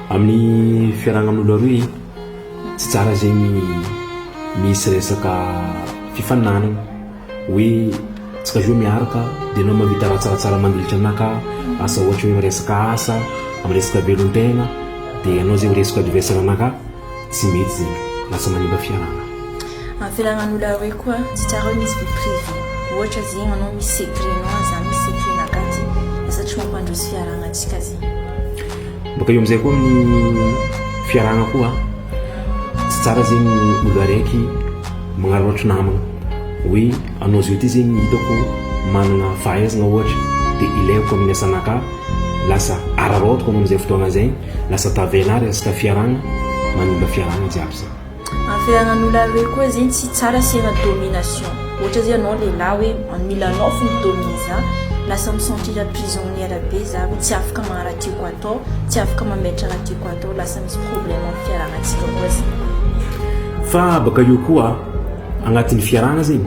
Amin'ny fiarahana amin'olona roa e, tsy tsara zegny misy resaka fifaninanana hoe tsika roa miaraka de anao mahavita raha tsaratsara mandritra anah ka asa ohatra hoe miresaka asa, miresaka velon-tegna de anao zegny ho resaka adversaire anah ka. Tsy mety zegny. Lasa manimba fiarahana. Amin'ny fiarahaman'olo aroe koa tsy tsara hoe misy vie privée. Ohatra zegny anao misy secret-nao ary za misy secret-naka ty. Lasa tsy mampandroso fiarahanantsika zegny. Bôka eo amizay koa amin'ny fiarahana koa tsy tsara zegny olo araiky magnararaotry namagna hoe anao zao ty zegny hitako managna fahaizagna ohatra de ilaiko amin'ny asanakà. Lasa araraotiko anao amizay fotoagna zay. Lasa tavela ary resaka fiarahana manimba fiarahana jiaby izany. Ary fiarahan'olona ary hoe koa zegny tsy tsara sy efa domination. Ohatra zao anao lehilahy hoe an mila anao fo mi domine za, lasa mi sentir prisonnière be za hoe tsy afaka magnano raha tiako atao, tsy afaka mametra raha tiako atao, lasa misy problème am fiarahantsika koa zegny. Fa baka eo koa agnatin'ny fiarahana zegny,